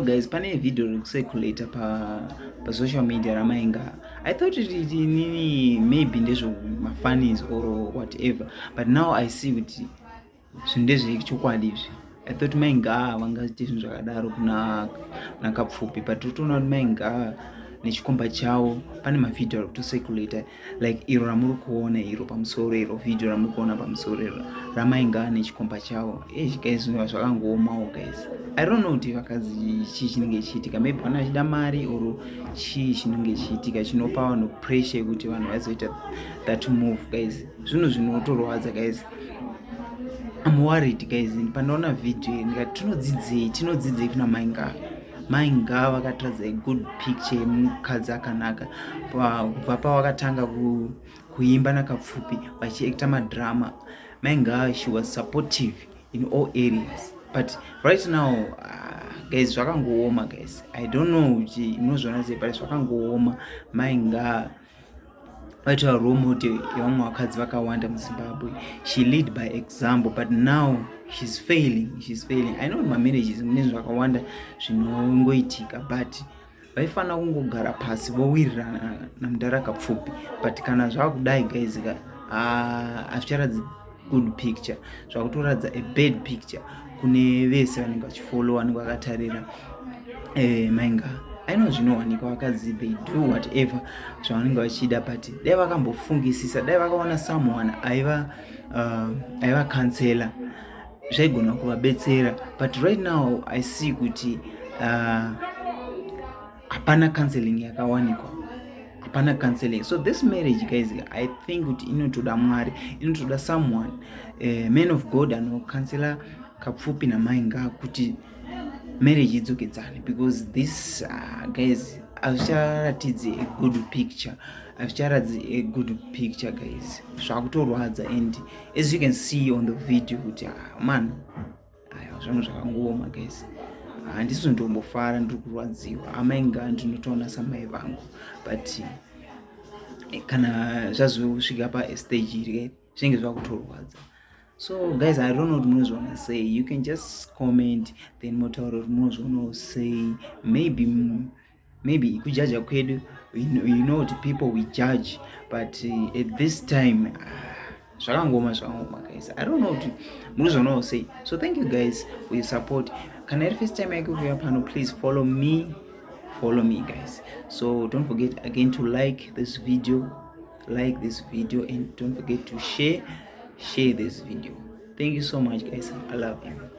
guys pane video rekucirculate pa pa social media ramainga i thought it is nini maybe ndezvo mafanis or whatever but now i see kuti zvinhu ndezvechokwadi izvi i thought mainga vangaite zvinhu zvakadaro kuna nakapfupi but totoona kuti mainga nechikomba chavo pane mavideo ari kutocirculate like iro ramuri kuona iro pamusoro iro video ramuri kuona pamusoro iro ramainga nechikomba chavo eish guys zvinova zvakangoomawo guys i don't know kuti vakadzi chii chinenge chichiitika maybe vana vachida mari or chii chinenge chichiitika chinopa vanhu pressure yekuti vanhu vaizoita that move guys zvinhu zvinotorwadza guys I'm worried guys pandaona video ndikati tinodzidzei tinodzidzei kuna mainga mai ngava vakatiratidza a good picture yemukadzi akanaka kubva pawakatanga kuimba nakapfupi vachiekta madrama mai ngava she was supportive in all areas but right now uh, guys zvakangooma guys i don't know kuti munozviona sei but zvakangooma mai ngava But a role model yevamwe vakadzi vakawanda muzimbabwe she lead by example but now she's failing she's failing i know mamanages mune zvakawanda zvinongoitika but vaifanira kungogara pasi vowirirana namudhara kapfupi but kana zvakudai guys ka ah, hazvicharatidzi good picture zvakutoratidza a bad picture kune vese vanenge vachifollow vanenge vakatarira eh, mainga aino zvinowanikwa vakadzi they do whatever zvavanenge vachida but dai vakambofungisisa dai vakaona someone aiva uh, aiva cancela zvaigona kuvabetsera but right now i see kuti uh, hapana counseling yakawanikwa hapana counseling so this marriage guys i think kuti inotoda mwari inotoda someone uh, man of god anokansela kapfupi namai ngaa kuti marriage idzokedzane because this uh, guys hazvicharatidzi a good picture hazvicharatidzi a good picture guys zvakutorwadza and as you can see on the video kuti uh, ah, man Ayo zvinhu zvakangooma guys handisi ndombofara ndiri kurwadziwa amai ngaa ndinotoona samai vangu but eh, kana zvazosvika pastage iri eh, zvinenge zvava kutorwadza so guys i don't know kuti munozviona sei you can just comment then motaura kuti munozvionawo sei maybe maybe kujaja kwedu you know kuti people we judge but uh, at this time ah, zvakangoma zvakangoma guys i don't know kuti munozvanawo sei so thank you guys for your support kana iri first time yake kuuya pano please follow me follow me guys so don't forget again to like this video like this video and don't forget to share share this video thank you so much guys i love you